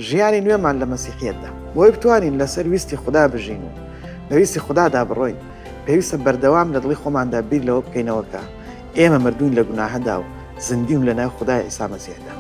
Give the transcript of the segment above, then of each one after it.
ژیانی نوێمان لە مەسیحیەتدا. بۆی بتوانین لەسەر ویستی خودا بژین و بە ویستی خودادا بڕۆین، پێویستە بەردەوام لە دڵی خۆماندا بیر لەوە بکەینەوە کە ئێمە مردووین لە گوناهدا و زیندووین لەناو خودای عیسا مەسیحدا.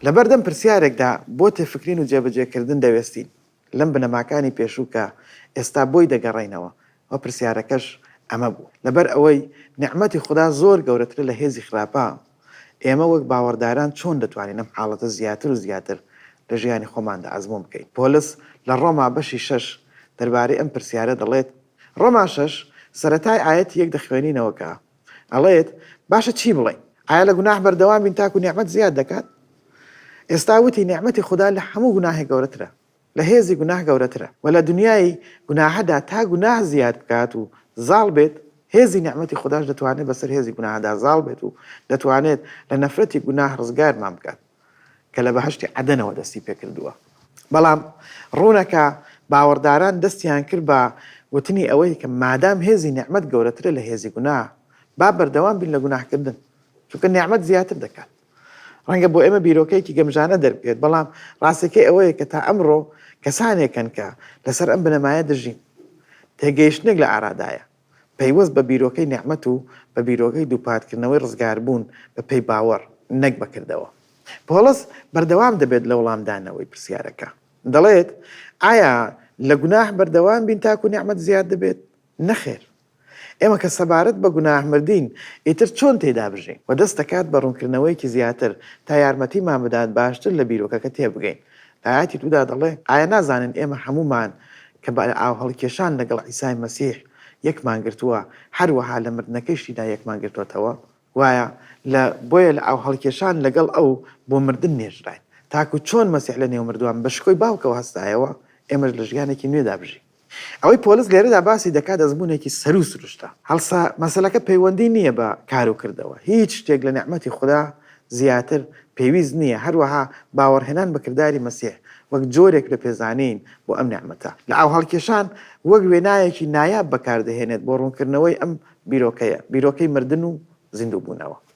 لەبەردەم پرسیارێکدا بۆ تێفکرین و جێبەجێکردن دەوێستین، لەم بنەماکانی پێشوو کە ئێستا بۆی دەگەڕێینەوە و پرسیارەکەش ئەمە بوو. لەبەر ئەوەی نیعمەتی خودا زۆر گەورەترە لە هێزی خراپە، ئێمە وەک باوەڕداران چۆن دەتوانین ئەم حاڵەتە زیاتر و زیاتر لە ژیانی خۆماندا ئەزموون بکەین؟ پۆلس لە ڕۆما بەشی شەش دەربارەی ئەم پرسیارە دەڵێت، ڕۆما شەش، سەرەتای ئایەتی یەک دەخوێنینەوە کە، ئەڵێت باشە چی بڵێین؟ ئایا لە گوناح بەردەوام بین تاکو نیعمەت زیاد دەکات؟ ئێستا وتی نیعمەتی خودا لە هەموو گوناحێک گەورەترە، لە هێزی گوناح گەورەترە و لە دنیای گوناحدا تا گوناح زیاد بکات و زاڵ بێت هێزی نیعمەتی خوداش دەتوانێت بەسەر هێزی گوناحدا زاڵ بێت و دەتوانێت لە نەفرەتی گوناح ڕزگارمان بکات. کە لە بەهەشتی عەدەنەوە دەستی پێکردووە. بەڵام ڕوونە کە باوەڕداران دەستیان کرد بە وتنی ئەوەی کە مادام هێزی نیعمەت گەورەترە لە هێزی گوناه، با بەردەوام بین لە گوناهکردن، چونکە نیعمەت زیاتر دەکات. ڕەنگە بۆ ئێمە بیرۆکەیەکی گەمژانە دەربکەوێت، بەڵام ڕاستییەکەی ئەوەیە کە تا ئەمڕۆ کەسانێک هەن کە لەسەر ئەم بنەمایە دەژین. تێگەیشتنێک لە ئارادایە. پەیوەست بە بیرۆکەی نێعمەت و بە بیرۆکەی دووپاتکردنەوەی ڕزگاربوون بە پێی باوەڕ نەک بە کردەوە. پۆڵس بەردەوام دەبێت لە وڵامدانەوەی پرسیارەکە. دەڵێت، ئایا لە گوناه بەردەوام بین تاکو نێعمەت زیاد دەبێت؟ نەخێر. ئێمە کە سەبارەت بە گوناه مردین، ئیتر چۆن تێیدا بژین؟ وە دەست دەکات بە ڕوونکردنەوەیەکی زیاتر تا یارمەتیمان بدات باشتر لە بیرۆکەکە تێبگەین. لە ئایەتی دوودا دەڵێ، ئایا نازانن ئێمە هەموومان کە بە ئاوهەڵکێشان لەگەڵ عیسای مەسیح یەکمان گرتووە، هەروەها لە مردنەکەیشیدا یەکمان گرتۆتەوە؟ وایە، لە بۆیە لە ئاوهەڵکێشان لەگەڵ ئەو بۆ مردن نێژراین، تاکو چۆن مەسیح لەنێو مردووان بە شکۆی باوکەوە هەستایەوە، ئێمەش لە ژیانێکی نوێدا بژین. ئەوەی پۆلس لێرەدا باسی دەکات ئەزموونێکی سەروو سروشتە. هەڵسە مەسەلەکە پەیوەندی نییە بە کار و کردەوە. هیچ شتێک لە نیعمەتی خودا زیاتر پێویست نییە، هەروەها باوەڕهێنان بە کرداری مەسیح وەک جۆرێک لە پێزانین بۆ ئەم نیعمەتە، لە ئاوهەڵکێشان وەک وێنایەکی نایاب بەکاردەهێنێت بۆ ڕوونکردنەوەی ئەم بیرۆکەیە، بیرۆکەی مردن و زیندووبوونەوە.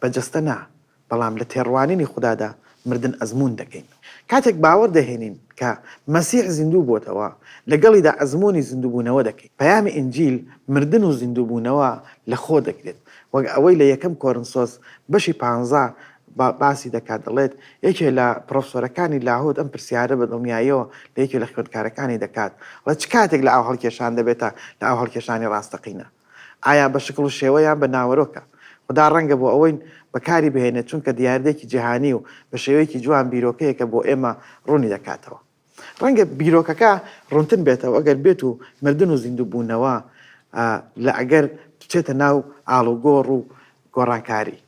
بە جەستە نا، بەڵام لە تێڕوانینی خودادا مردن ئەزموون دەکەین. کاتێک باوەڕ دەهێنین کە مەسیح زیندوو بۆتەوە، لەگەڵیدا ئەزموونی زیندووبوونەوە دەکەین. پەیامی ئینجیل مردن و زیندووبوونەوە لەخۆ دەگرێت، وەک ئەوەی لە یەکەم کۆرنسۆس بەشی پانزە باسی دەکات، دەڵێت، یەکێ لە پڕۆفسۆرەکانی لاهوت ئەم پرسیارە بە دڵنیاییەوە لە یەکێ لە خوێندکارەکانی دەکات، ڵێ چ کاتێک لە ئاوهەڵکێشان دەبێتە لە ئاوهەڵکێشانی ڕاستەقینە؟ ئایا بە شکڵ و شێوە یان بە ناوەرۆکە؟ خودا ڕەنگە بۆ ئەوەی بەکاری بهێنێت چونکە دیاردەیەکی جیهانی و بە شێوەیەکی جوان بیرۆکەیەکە بۆ ئێمە ڕوونی دەکاتەوە. ڕەنگە بیرۆکەکە ڕوونتر بێتەوە ئەگەر بێت و مردن و زیندووبوونەوە لە ئەگەر بچێتە ناو ئاڵوگۆڕ و گۆڕانکاری،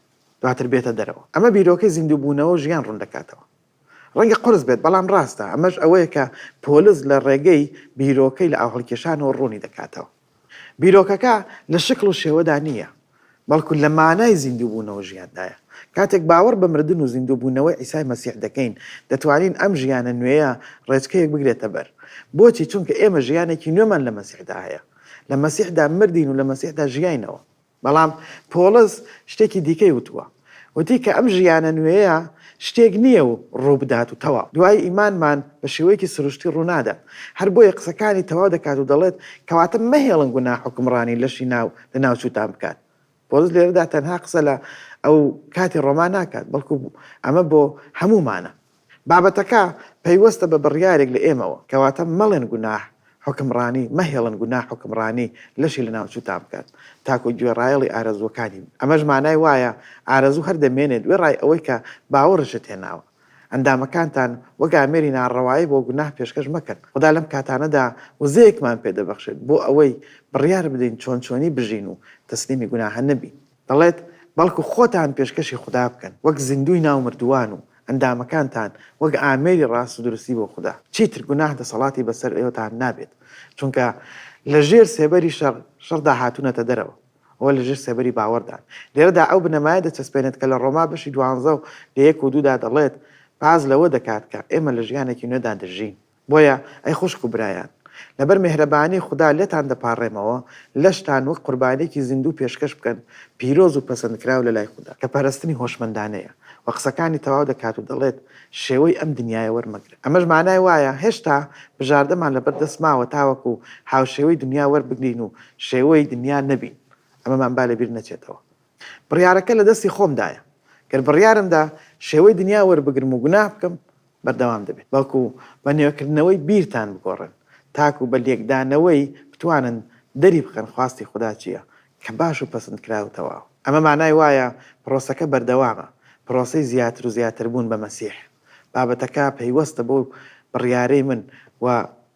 دواتر بێتە دەرەوە. ئەمە بیرۆکەی زیندووبوونەوە و ژیان ڕوون دەکاتەوە. ڕەنگە قورس بێت، بەڵام ڕاستە، ئەمەش ئەوەیە کە پۆلس لە ڕێگەی بیرۆکەی لە ئاوهەڵکێشانەوە ڕوونی دەکاتەوە. بیرۆکەکە لە شکڵ و شێوەدا نییە، بەڵکو لە مانای زیندووبوونەوە ژیاندایە. کاتێک باوەڕ بە مردن و زیندووبوونەوەی عیسای مەسیح دەکەین، دەتوانین ئەم ژیانە نوێیە ڕێچکەیەک بگرێتە بەر. بۆچی؟ چونکە ئێمە ژیانێکی نوێمان لە مەسیحدا هەیە. لە مەسیحدا مردین و لە مەسیحدا ژیاینەوە. بەڵام پۆڵس شتێکی دیکەی وتووە، وتی کە ئەم ژیانە نوێیە شتێک نییە و ڕووبدات و تەواو، دوای ئیمانمان بە شێوەیەکی سروشتی ڕوونادات، هەر بۆیە قسەکانی تەواو دەکات و دەڵێت، کەواتە مەهێڵن گوناه حوکمڕانی لەشی ناو لەناوچووتان بکات. پۆڵس لێرەدا تەنها قسە لە ئەو کاتی ڕۆما ناکات، بەڵکو ئەمە بۆ هەموومانە. بابەتەکە پەیوەستە بە بڕیارێک لە ئێمەوە، کەواتە مەڵێن گوناح حوکمڕانی، مەهێڵن گوناح حوکمڕانی لەشی لەناوچووتان بکات، تاکو گوێڕایەڵی ئارەزووەکانی بن. ئەمەش مانای وایە ئارەزوو هەر دەمێنێت وێڕای ئەوەی کە باوەڕشت هێناوە. ئەندامەکانتان وەک ئامێری ناڕەوایی بۆ گوناح پێشکەش مەکەن. خودا لەم کاتانەدا وزەیەکمان پێدەبەخشێت بۆ ئەوەی بڕیار بدەین چۆن چۆنی بژین و تەسلیمی گوناح نەبین. دەڵێت، بەڵکو خۆتان پێشکەشی خودا بکەن وەک زیندووی ناو مردووان و ئەندامەکانتان وەک ئامێری ڕاست و دروستی بۆ خودا، چیتر گوناه دەسەڵاتی بەسەر ئێوەتان نابێت، چونکە لە ژێر سێبەری شەڕ، شەڕدا هاتوونەتە دەرەوە، ئەوە لە ژێر سێبەری باوەڕدان. لێرەدا ئەو بنەمایە دەچەسپێنێت کە لە ڕۆما بەشی دوانزە و لە یەک و دوودا دەڵێت، باس لەوە دەکات کە ئێمە لە ژیانێکی نوێدا دەژین، بۆیە ئەی خوشک و برایان، لەبەر مێهرەبانی خودا لێتان دەپاڕێمەوە، لەشتان وەک قوربانیەکی زیندوو پێشکەش بکەن، پیرۆز و پەسەندکراو لەلای خودا. کە پەرستنی هۆشمەندانەیە. وە قسەکانی تەواو دەکات و دەڵێت، شێوەی ئەم دنیایە وەرمەگرن. ئەمەش مانای وایە هێشتا بژاردەمان لەبەر دەست ماوە تاوەکو هاوشێوەی دنیا وەربگرین و شێوەی دنیا نەبین. ئەمەمان با لەبیر نەچێتەوە. بڕیارەکە لە دەستی خۆمدایە. گەر بڕیارمدا شێوەی دنیا وەربگرم و گوناه بکەم، بەردەوام دەبێت بەڵکو بە نوێکردنەوەی بیرتان بگۆڕن تاکو بە لێکدانەوەی بتوانن دەری بخەن خواستی خودا چییە کە باش و پەسندکراو و تەواو ئەمە مانای وایە پرۆسەکە بەردەوامە پرۆسەی زیاتر و زیاتر بوون بە مەسیح بابەتەکە پەیوەستە بەو بڕیارەی من و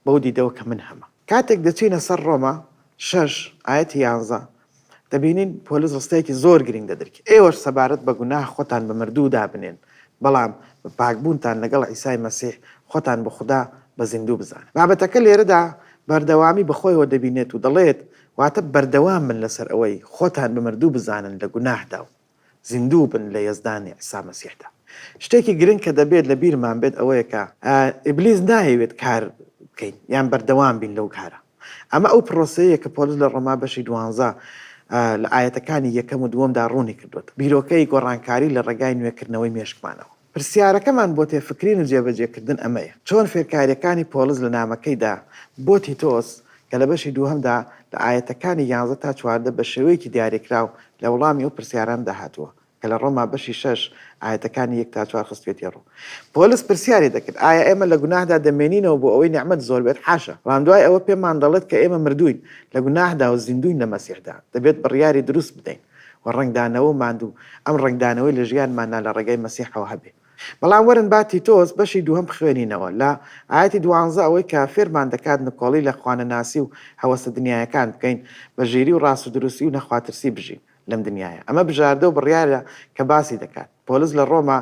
بەو دیدەوە کە من هەمە. کاتێک دەچینە سەر ڕۆما شەش ئایەتی یانزە دەبینین پۆلس ڕستەیەکی زۆر گرینگ دەدرک، ئێوەش سەبارەت بە گوناه خۆتان بە مردوو دابنێن، بەڵام بە پاکبوونتان لەگەڵ عیسای مەسیح، خۆتان بۆ خودا بە زیندوو بزانن. بابەتەکە لێرەدا بەردەوامی بەخۆیەوە دەبینێت و دەڵێت، واتە بەردەوام بن لەسەر ئەوەی خۆتان بە مردوو بزانن لە گوناهدا و زیندوو بن لە یەزدانی عیسا مەسیحدا. شتێکی گرنگ کە دەبێت لە بیرمان بێت ئەوەیە کە ئیبلیس نایەوێت کار بکەین یان بەردەوام بین لەو کارە. ئەمە ئەو پرۆسەیە کە پۆلس لە ڕۆما بەشی دوانزە لە ئایەتەکانی یەکەم و دووەمدا ڕوونی کردووەتەوە، بیرۆکەی گۆڕانکاری لە ڕێگای نوێکردنەوەی مێشکمانەوە. پرسیارەکەمان بۆ تێفکرین و جێبەجێکردن ئەمەیە، چۆن فێرکارییەکانی پۆڵس لە نامەکەیدا بۆ تیتۆس کە لە بەشی دووهەمدا لە ئایەتەکانی یانزە تا چواردە بە شێوەیەکی دیاریکراو لە وڵامی ئەو پرسیارانەدا هاتووە کە لە ڕۆما بەشی شەش ئایەتەکانی یەک تا چوار خستویەتی ڕوو؟ پۆلس پرسیاری دەکرد، ئایا ئێمە لە گوناهدا دەمێنینەوە بۆ ئەوەی نیعمەت زۆر بێت؟ حاشا! بەڵام دوای ئەوە پێمان دەڵێت کە ئێمە مردووین لە گوناهدا و زیندووین لە مەسیحدا، دەبێت بڕیاری دروست بدەین. و ڕەنگدانەوە و ماندوو، ئەم ڕەنگدانەوەی لە ژیانماندا لە ڕێگای مەسیحەوە هەبێ. بەڵام وەرن با تیتۆس بەشی دووهەم بخوێنینەوە، لە ئایەتی دوانزە ئەوەی کە فێرمان دەکات نکۆڵی لە خوانەناسی و هەوەسە دنیایەکان بکەین، بە ژیری و ڕاست و دروستی و نەخواترسی بژین لەم دنیایە. ئەمە بژاردە و بڕیارە کە باسی دەکات. پۆلس لە ڕۆما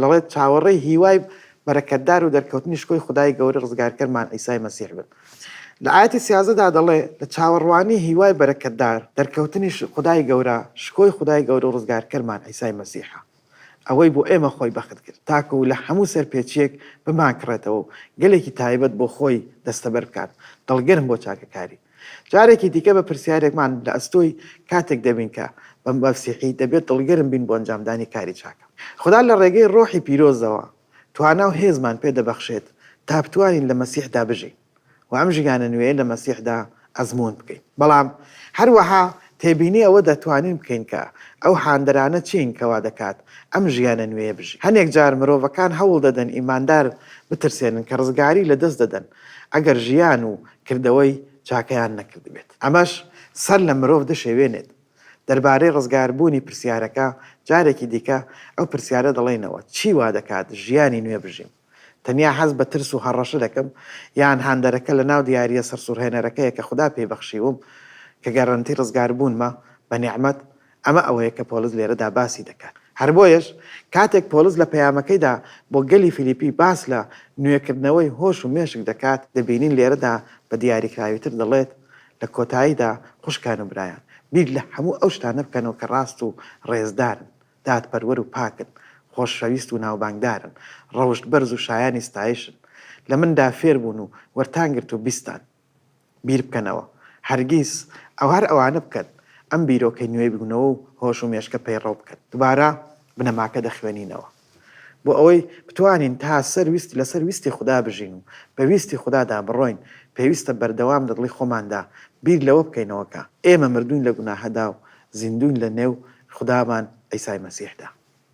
دەڵێت، چاوەڕێی هیوای بەرەکەتدار و دەرکەوتنی شکۆی خودای گەورە ڕزگارکەرمان عیسای مەسیح بن. لە ئایەتی سیازدە دا دەڵێ، لە چاوەڕوانی هیوای بەرەکەتدار، دەرکەوتنی خودای گەورە، شکۆی خودای گەورە و ڕزگارکەرمان عیسای مەسیحە، ئەوەی بۆ ئێمە خۆی بەخت کرد تاکوو لە هەموو سەرپێچییەک بمانکڕێتەوە و گەلێکی تایبەت بۆ خۆی دەستەبەر بکات، دڵگەرم بۆ چاکەکاری. جارێکی دیکە بە پرسیارێکمان لە ئەستۆی کاتێک دەبین کە بە مەسیحی دەبێت دڵگەرم بین بۆ ئەنجامدانی کاری چاکە. خودا لە ڕێگەی ڕۆحی پیرۆزەوە توانا و هێزمان پێ دەبەخشێت تا بتوانین لە مەسیحدا بژین و ئەم ژیانە نوێیە لە مەسیحدا ئەزموون بکەین. بەڵام هەروەها تێبینی ئەوە دەتوانین بکەین کە ئەو هاندەرانە چین کە وا دەکات ئەم ژیانە نوێیە بژین. هەنێک جار مرۆڤەکان هەوڵ دەدەن ئیماندار بترسێنن کە ڕزگاری لەدەست دەدەن ئەگەر ژیان و کردەوەی چاکەیان نەکردبێت، ئەمەش سەر لە مرۆڤ دەشێوێنێت. دەربارەی ڕزگاربوونی پرسیارەکە، جارێکی دیکە ئەو پرسیارە دەڵێینەوە، چی وا دەکات ژیانی نوێ بژیم؟ تەنیا هەست بە ترس و هەڕەشە دەکەم؟ یان هاندەرەکە لەناو دیارییە سەرسوڕهێنەرەکەیە کە خودا پێی بەخشیوم، کە گەرەنتی ڕزگاربوونمە بە نیعمەت؟ ئەمە ئەوەیە کە پۆڵس لێرەدا باسی دەکات. هەر بۆیەش کاتێک پۆڵس لە پەیامەکەیدا بۆ گەلی فیلیپی باس لە نوێکردنەوەی هۆش و مێشک دەکات، دەبینین لێرەدا بە دیاریکراویتر دەڵێت، لە کۆتاییدا، خوشکان و برایان، بیر لە هەموو ئەو شتانە بکەنەوە کە ڕاست و ڕێزدارن، دادپەروەر و پاکن، خۆشەویست و ناوبانگدارن، ڕەوشت بەرز و شایانی ستایشن، لە مندا فێربوون و وەرتان گرت و بیستان. بیر بکەنەوە هەرگیز ئەو هەر ئەوانە بکەن ئەم بیرۆکەی نوێی بگونەوە و هۆش و مێشکە پەیڕەو بکەن دوبارە بنەماکە دەخوێنینەوە بۆ ئەوەی بتوانین تا سەر ویست لەسەر ویستی خودا بژین و بە ویستی خودادا بڕۆین پێویستە بەردەوام لە دڵی خۆماندا بیر لەوە بکەینەوە کە ئێمە مردوین لە گوناهەدا و زیندوین لە نێو خودامان عیسای مەسیحدا.